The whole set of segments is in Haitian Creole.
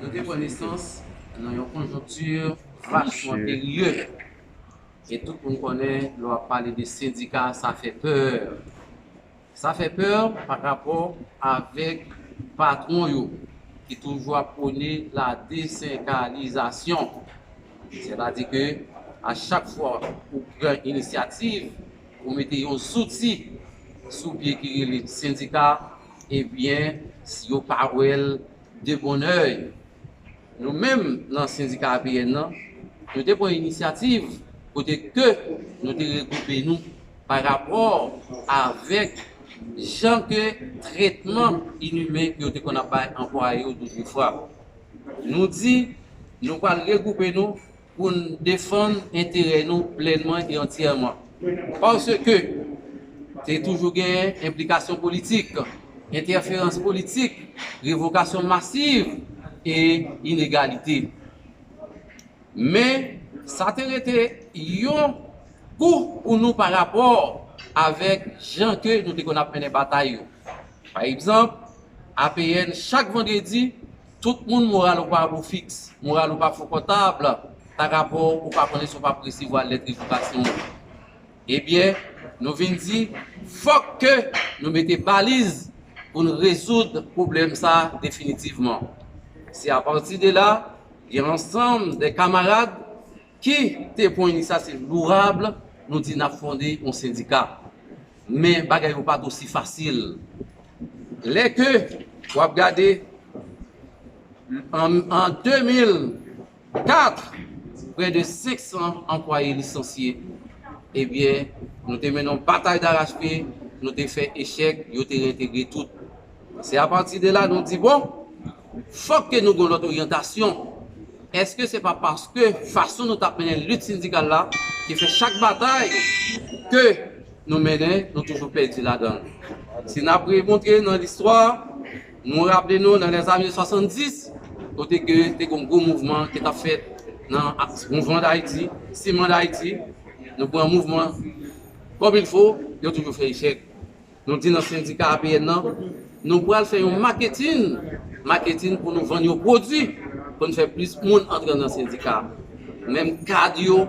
Nou te pran nesans nan yon konjonkti vrachman perye. E tout moun konnen lè w ap pale de sendika sa fè pè. Sa fè pè pa rapò avèk patwon yo ki toujou ap pwone la desenkalizasyon. Sètadi ke a chak fwa ou pran inisyativ pou mete yon zouti sou pye ki rele sendika, Ebyen, si yo pa wè l de bon òy, nou menm nan sendika APN nan, nou te pran inisyativ kote ke nou te regwoupe nou pa rapò avèk jan ke tretman inimen ke yo te konn ap bay anplwaye yo doudou fwa. Nou di nou pral regwoupe nou pou n defann enterè nou plènman e antyèman. Paske te toujou genyen enplikasyon politik, entèferans politik, revokasyon masiv e inegalite. Men, sa te rete yon kou pou nou pa rapò avèk jan ke nou te konn ap mennen batay yo. Pa egzanp, APN chak vandredi, Tout moun moral ou pa bon fiks, moral ou pa konfòtab pa rapò ou pa konnen si w pap resevwa lèt revokasyon ou. Ebyen, nou vin di fòk ke nou mete baliz pou n rezoud pwoblèm sa definitivman. Se apati de la, gen ansanm de kamarad Ki te pwen ni sa se lourab nou di nap fonde yon sendika men bagay yo pat osi fasil lè ke wap gade an 2004 prè de 500 anplwaye lisansye ebyen nou te mennen yon batay darach pye nou te fè echèk yo te reentegre tout se apati de la nou di bon Fòk ke nou gen yon lòt oryantasyon. Èske se pa paske fason nou t ap mennen lit sendikal la ki fè chak batay ke nou mennen nou toujou pèdi ladan l? Si n ap remonte nan listwa, nou raple nou nan lèzane 70, kote ke te gen yon gwo mouvman ki t ap fèt nan Mouvman Dayiti, Siman Dayiti, nou pran mouvman kòmilfo, yo toujou fè echèk. Nou di nan sendika APN nan, nou pral fè yon maketin, marketing, pou nou vann yon pwodui, pou n fè plis moun antre nan sendika a. Menm kad yo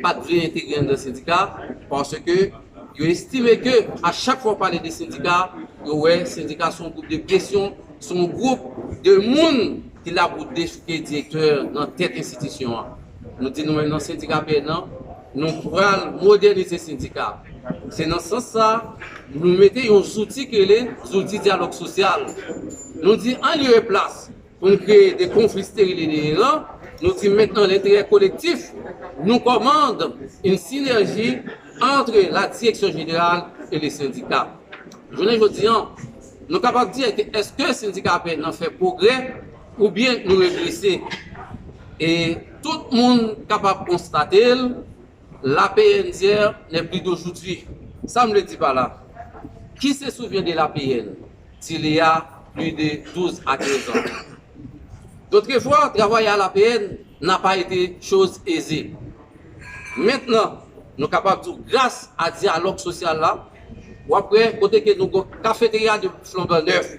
pa t vle entegre anndan sendika a, paske yo estime ke a chak fwa w pale de sendika, yo wè sendika se yon gwoup de presyon, se yon gwoup de moun ki la pou dechouke direktè nan tèt enstitisyon an. Nou di nou menm nan sendika APN nan, nou pral modènize sendika. Se nan sans sa, nou mete yon zouti ki rele zouti dyalòg sosyal. Nou di an lye e plas pou n kreye de konfli steril e deyeran, nou di mèt nan lenterè kolektif, nou kòmand yn sinèji antre la direksyon jeneral e le sendika. Jounen jodi an, nou kapab di èske sendika pè nan fè pwogrè? Oubyen nou regrese. E tout moun kapab konstate l, la PNDR n'est plus d'aujourd'hui. Sa m vle di pa la, Qui se souvient de la PN d'il y a plus de 12 à 15 ans? D'autrefois, travailler à la PN n'a pas été chose aisée. Mentnan, nou kapab di w gras a dyalòg sosyal la, w ap wè kote ke nou gon kafeterya de flambandèf,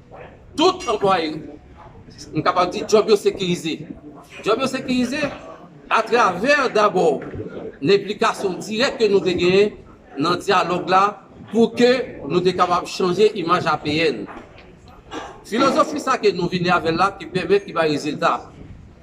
Tout anplwaye, m kapab di djòb yo sekirize. Djòb yo sekirize atravè dabò lenplikasyon dirèk ke nou te genyen nan dyalòg la pou ke nou te kapab chanje imaj APN. Filozofi sa ke nou vini avè l la ki pèmèt ki bay rezilta.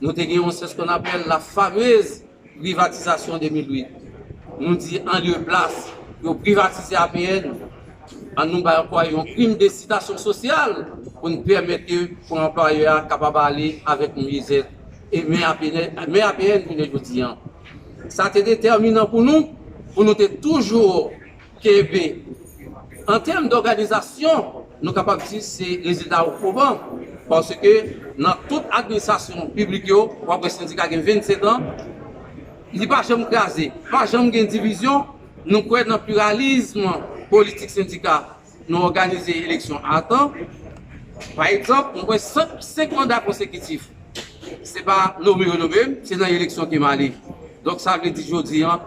Nou te gen yon sè skonn apèl la famez privatizasyon 2008. Nou di an lye plas yo privatize APN, an nou bay anplwaye yon prim de sitasyon sosyal pou n pèmèt ke pou anplwaye a kapab ale avèk myezèt. E men APN jounen jodi an. Sa te detèminan pou nou, pou nou te toujou. KV, An tèm dòganizasyon, nou kapab di se rezilta ou pwoban, paske nan tout administrasyon piblik yo, w ap wè sendika gen 25 an, li pa janm kraze, pa janm gen divizyon, nou kwè nan pliralizm politik sendika, nou òganize eleksyon a tan. Pa egzanp, mwen kwè 5 manda konsekitif, se pa nome yo nome m, se nan eleksyon ke m ale. Donk sa vle di jodi an,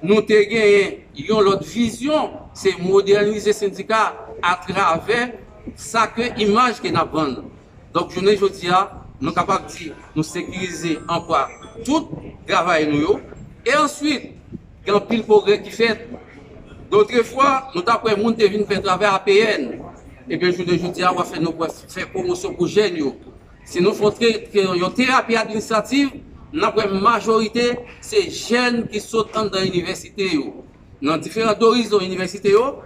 Nou te genyen yon lòt vizyon, se modènize sendika atravè sa ke imaj ke n ap vann. Donk jounen jodi a, nou kapab di nou sekirize anplwa tout travayè nou yo. E answit, gen anpil pwogrè ki fèt. Dotrefwa, nou t ap wè moun te vin fè travay APN. Ebyen jounen jodi a, w ap fè nou fè pwomosyon pou jèn yo. Si nou fon yon terapi administrativ, n ap wè majorite se jèn ki sot anndan inivèsite yo, nan diferan dorizon inivèsite yo,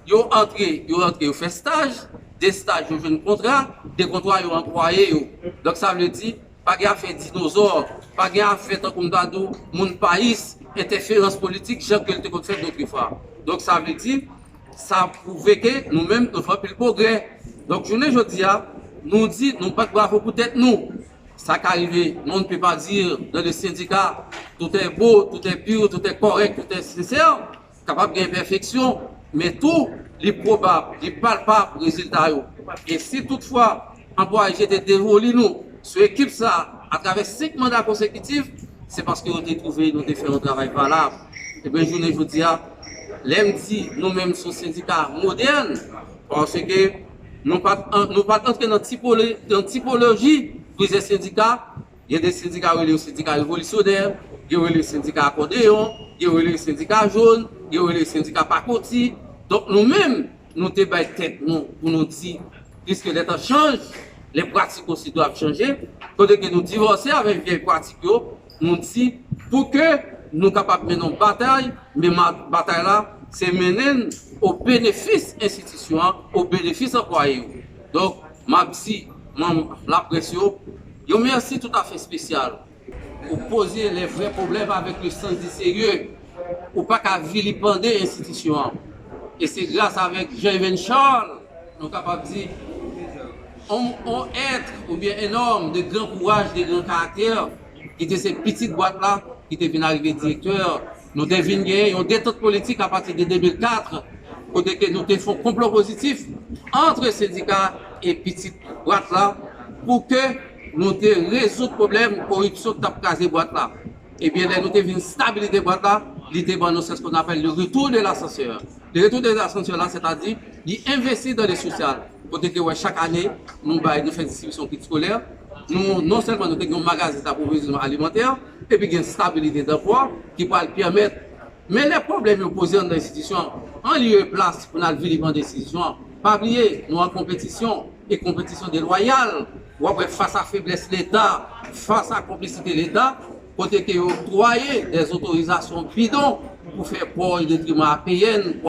yo antre, yo rantre yo fè staj, de staj yo jwenn kontra, de kontra yo anplwaye yo. Donk sa vle di, pa gen afè dinozò, pa gen afè tankou m ta di w moun payis, entèferans politik jan ke l te konn fèt dotrefwa. Donk sa vle di. Sa pwouve ke nou menm nou fè anpil pwogrè. Donk jounen jodi a, nou di nou bat bravo pou tèt nou. Sa ka rive on ne peut pas dire dans le syndicat tout est beau, tout est pur, tout est correct, tout est sincère. Kapab gen enpèfeksyon, men tou li pwobab, li palpab rezilta yo. E si tout fwa anplwaye jete devoli nou sou ekip sa a atravè 5 manda konsekitif, se paske yo te twouve nou te fè yon travay valab. Ebyen jounen jodi a, lè m di nou menm son sendika modèn, paske nou pa nou pa t antre nan tipolo nan tipoloji plizyè sendika, gen de sendika yo rele yo sendika revolisyonè, gen yo rele yo sendika akòdeyon, gen yo rele yo sendika jòn, gen yo rele yo sendika pakoti. Donk nou menm nou te bay tèt nou pou nou di piske lè tan chanj, lè pratik osi dwe ap chanje, kote ke nou divòse avèk vyèy pratik yo, nou di pou ke nou kapab mennen yon batay, men batay la se mennen l o benefis enstitisyon an, o benefis anplwaye yo. Donk, m ap di manm laprès yo yon mèsi toutafè espesyal. Ou poze lè vrè pwoblèm avèk le sans di serye. Ou pa ka vilipande enstitisyon an. E se gras avèk Jean Evène Charles Nou kapab di, on èt oubyen en òm de gran kouraj, de gran karaktè, ki te se pitit bwat la, ki te vin arive direktè. Nou te vin genyen yon detant politik apati de 2004, kote ke nou te fon konplo pozitif antre sendika e pitit bwat la pou ke nou te rezoud pwoblèm koripsyon ki t ap kraze bwat la. Ebyen lè nou te vin stabilite bwat la, li te ban nou seskonapèl le retour de l'ascenseur. Le retour des ascenseurs la sètadi li envesti dan le sosyal kote ke wè chak ane nou bay nou fè distribisyon kit skolè nou non sèlman nou te gen yon magazen daprovizyonman alimantè epi gen stabilite danpwa ki pral pèmèt men lè pwoblèm yo poze anndan enstitisyon an lye e plas pou n al vilipande enstitisyon an pa bliye nou an konpetisyon e konpetisyon delwayal w ap wè fas a feblès leta fas a konplisite leta kote ke yo oktwaye dèzotorizasyon bidon pou fè pò o detriman apn.